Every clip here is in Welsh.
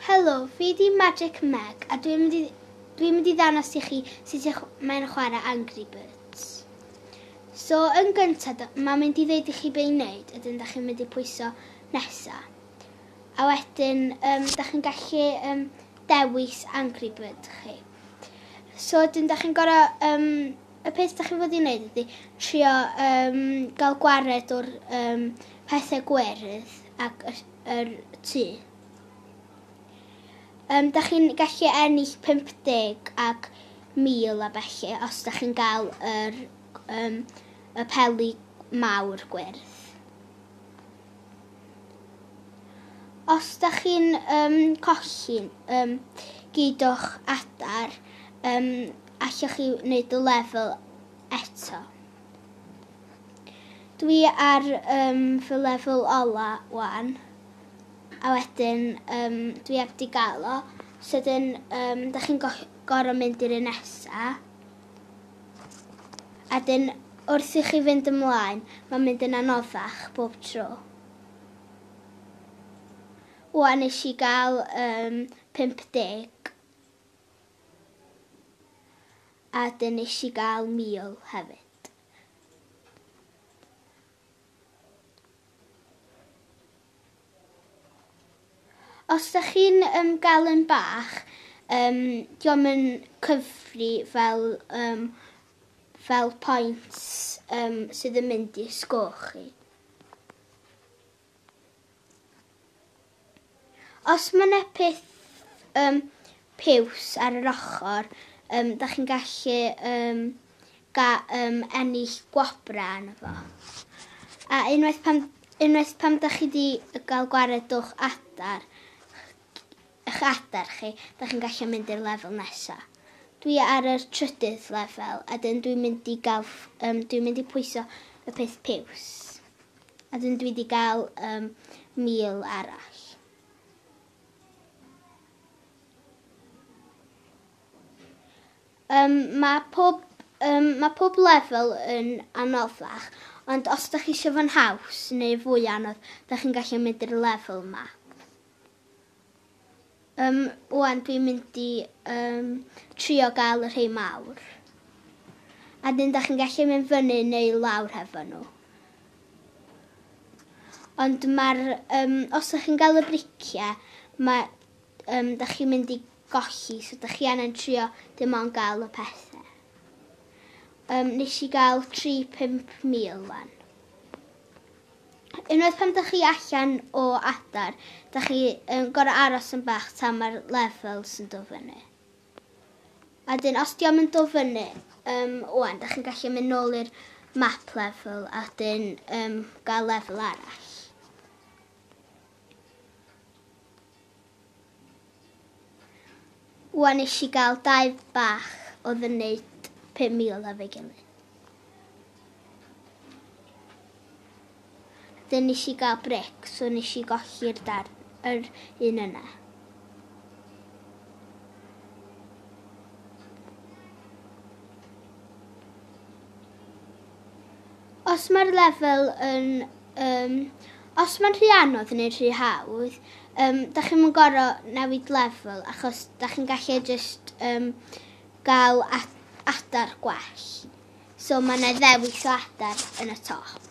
Helo, fi 'di Magic Meg a dwi'n mynd i dwi'n mynd i ddangos i chi sut i mae'n chwarae Angry Birds. So, yn gyntaf, mae'n mynd i ddeud i chi be i wneud, ydyn, da chi'n mynd i pwyso nesa. A wedyn, um, da chi'n gallu um, dewis Angry Bird chi. So, ydyn, da chi'n gorau... Um, y peth da chi'n fod i wneud ydy trio um, gael gwared o'r um, pethau gwerth ac yr tŷ. Um, da chi'n gallu ennill 50 ac 1000 a felly os da chi'n gael yr, um, y peli mawr gwyrdd. Os da chi'n um, colli um, gyd o'ch adar, um, allwch chi wneud y lefel eto. Dwi ar um, fy lefel ola wan, a wedyn um, dwi heb di gael o. Sydyn, um, da chi'n go gorau mynd i'r un nesa. A dyn, wrth i chi fynd ymlaen, mae'n mynd yn anoddach bob tro. Wan nes i gael um, 50 a dyn nes i gael 1000 hefyd. Os da chi'n um, gael yn bach, um, diolch yn cyfri fel, um, fel pwynt um, sydd yn mynd i sgôch chi. Os mae yna peth um, piws ar yr ochr, um, da chi'n gallu um, ga, um, ennill gwobrau arno fo. A unwaith pam, unwaith pam da chi wedi cael gwared o'ch adar, eich adar chi, da chi'n gallu mynd i'r lefel nesaf. Dwi ar y trydydd lefel, a dyn dwi'n mynd i gael, um, dwi'n mynd i pwyso y peth piws. A dyn dwi di gael um, mil arall. Um, mae pob um, mae pob lefel yn anoddach, ond os da chi eisiau fo'n haws neu fwy anodd, da chi'n gallu mynd i'r lefel yma. Yym, ŵan dwi'n mynd i yym trio gael y rhei mawr. A dyn da chi'n gallu mynd fyny neu lawr hefo nhw. Ond mae'r, um, os ydych chi'n gael y briciau, mae, um, da chi'n mynd i golli, so da chi angen trio dim ond gael y pethau. Um, nes i gael 3-5 mil fan. Unwaith pan dych chi allan o adar, dych chi yn gorau aros yn bach tan mae'r levels yn dod fyny. A dyn, os diom yn dod fyny, um, wan, dych chi'n gallu mynd nôl i'r map level a dyn um, gael level arall. Wan nes i gael dau bach oedd yn neud 5,000 a fe gilydd. Dyn nes i gael bric, so nes i golli'r darn, yr un yna. Os mae'r lefel yn, um, os mae'n rhy anodd neu rhy hawdd, um, da chi'n mynd gorau newid lefel achos da chi'n gallu just um, gael adar gwell. So mae yna ddewis o adar yn y top.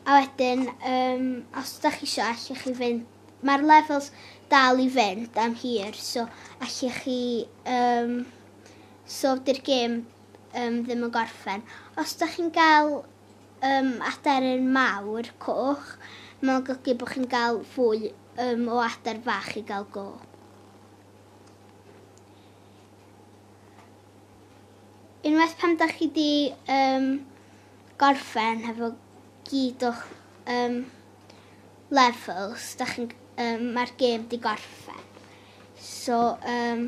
A wedyn, um, os da chi eisiau, allwch chi fynd... Mae'r levels dal i fynd am hir, so allwch chi... Um, so dy'r gêm um, ddim yn gorffen. Os da chi'n cael um, aderyn mawr coch, mae'n golygu bod chi'n cael fwy um, o ader fach i gael go. Unwaith pan da chi di um, gorffen hefo gyd o'ch um, levels, da chi'n, um, mae'r gêm di gorffen. So, um,